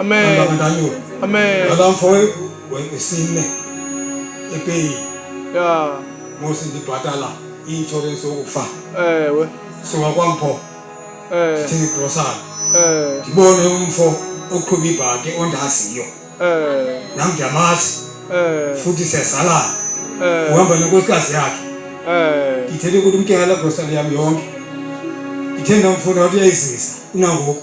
Amen. Amen. Alamfoe wengisine epeyi. Yeah. Musi ndibhatala i-insurance yokufa. Ewe. Suka kwampho. Eh. Thini grocery. Eh. Ndibone umfo oqhuba ibhaki ondaziyo. Eh. Nam ndiyamazi. Eh. Futhi siyazalana. Eh. Uhamba nenkosikazi yakhe. Eh. Ndithele ukuthi umtyala grocery yam yonke. Ndithenda umfuna wathi uyayizisa unangoku.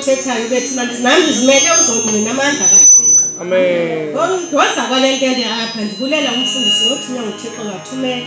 uthethayo bethi nami ndizimele uzongqina amandla kathixo ngoza kwale ntende apha ndibulela umfundisi wothunywa nguthixo ngathumela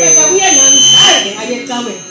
eka kuye nam zange aye caweni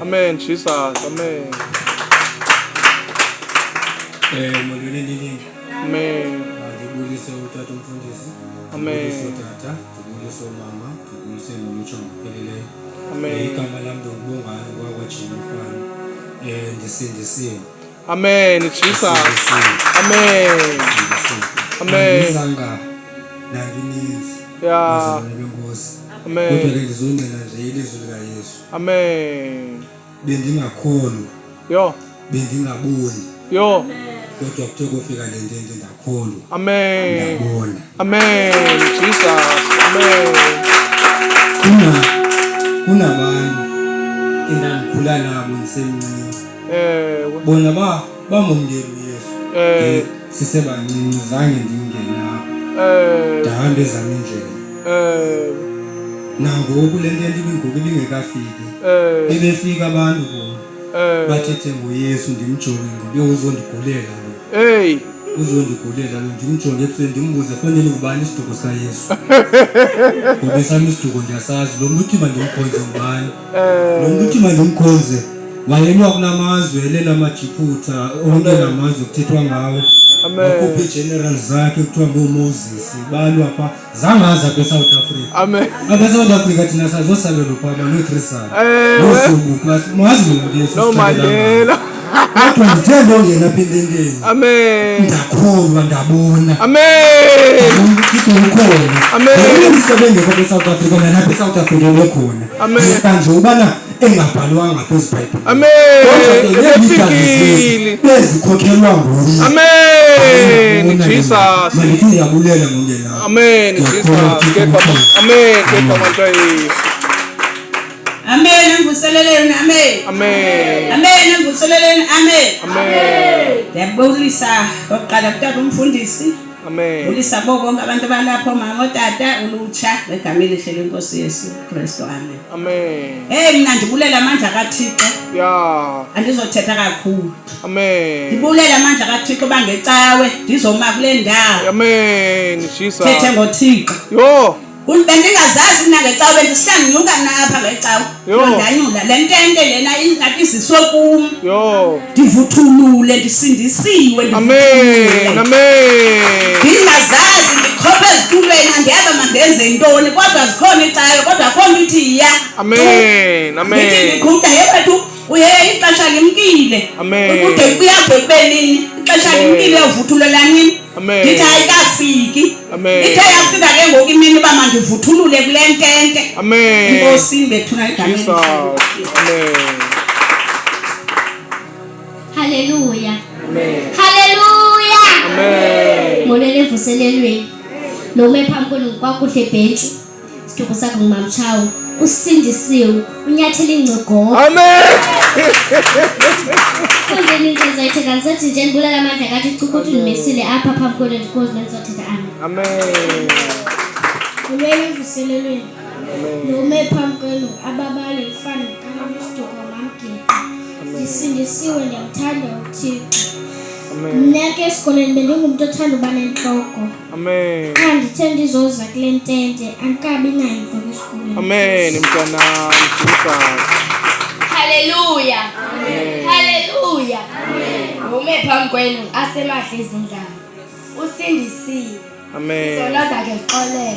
Amen, Jesus. Amen. Eh, mwelele nini? Amen. Tugulise utatu mfundisi. Amen. Tugulise tata, tugulise mama, tugulise mulucho mpelele. Amen. Igama lam ndokubonga ngwakwa Jehova mfana. Eh, ndisindisiwe. Amen, Jesus. Amen. Amen. Isanga nangininzi. Yeah. Amen. Kodwa ke ndizongcina nje ilizwi likaYesu. Amen. Bendingakhoni. Yho. Bendingaboni. Yho. Kodwa kuthe kofika le nto into ndakhona. Amen. Ndabona. Amen. Jesus. Amen. Kuna kunabantu endandikhula nabo ndisemncinci. Ewe. Bona ba bamumkeli uyesu eh. sisebancinci zange ndingene apho eh. ndahambe ezam indlela eh. nangoku le nto yandibingoku ibingekafiki bebefika abantu bona bathethe ngoyesu ndimjonge ngobe uzondigulela lo uzondigulela lo ndimjonge ebusweni ndimbuze fanele ngubani isiduko sayesu ngobe sam isiduko ndiyasazi lo mntu uthi mandimkhonze ngubani eh. nokuthi mandimkhonze wayenwa kunamazwe elenamajiphutha onke namazwe kuthethwa ngawo akhupha iigeneral zakhe kuthiwa ngoomoses balwa pha zangaza kwesouth africa abesouth africa thina sazosalelo pha manotrisana nosumbuka mazi mntu yesu kodwa njengento ongena apha ententeni amen ndakholwa ndabona amen umsebengekho kwisouth africa nalapha isouth africa lekhona kanje ubana engabhalwanga phezu bhayibhile amenifikile bezikhokhelwa nguye amen jesus malithi uyabulela ngongenaa amen jesus kepha amen kepha mantwa yesu Amen. Mvuseleleni. Amen. Amen. Amen. Mvuseleleni. Amen. Amen. Ndiyabulisa okokuqala kutata umfundisi. Amen. Ulisa bo bonke abantu balapho mama otata ulutsha ngegama elihle lenkosi Yesu Kristu. Amen. Amen. Hey mina ndibulela amandla kaThixo. Yeah. Andizothetha kakhulu. Amen. Ndibulela amandla kaThixo bangecawe ndizoma kule ndawo. Amen. Jesus. Thethe ngoThixo. Yo. Uthi bendingazazi mna ngecawa bendihlanyuka mna apha ngecawa. Yho. Ndanyula le ntente lena ingathi iziswe kum. Yho. Ndivuthulule ndisindisiwe. Amen. Amen. Ndingazazi ndikhophe ezitulweni andiyaba mandenze ntoni kodwa zikhona icayo kodwa akho nto ithi iya. Amen. Ndithi Amen. ndiqhuda yewethu uye ixesha limkile. Amen. Ukude kuyabhekubelini ixesha Amen. limkile uvuthulula nini. Amen. Ndithi ayikafiki. Amen. Ithe yafika ke ngoku imini uba mandivuthulule kule ntente. Amen. Inkosi imbethuna igama Jesus. Amen. Haleluya. Amen. Haleluya. Amen. Molele evuselelweni. Lo ume phambi kwenu kwakuhle bhentshi. Sithokoza sakho ngumama Tshawu. Usindisiwe, unyathela ingcogoko. Amen. Konke into ezoyithe kangisathi nje ndibulala amandla kathi uchuku uthi ndimesile apha phambi kwenu ndikozi nendizothetha ami. Amen. Ulwele evuselelweni. Nome phambi kwenu ababale ifana kamamstuka wamamgeqa. Ndisindisiwe ndiyamthanda uThixo. Amen. Mna ke esikolweni bendingumntu othanda uba nentloko. Amen. Andithe ndizoza kule ntente andikabi nayo mfana esikolweni. Amen mntanam. Haleluya. Amen. Haleluya. Amen. Ume phambi kwenu asemahle izindaba. Usindisiwe. Amen. Zona zakhe xolele.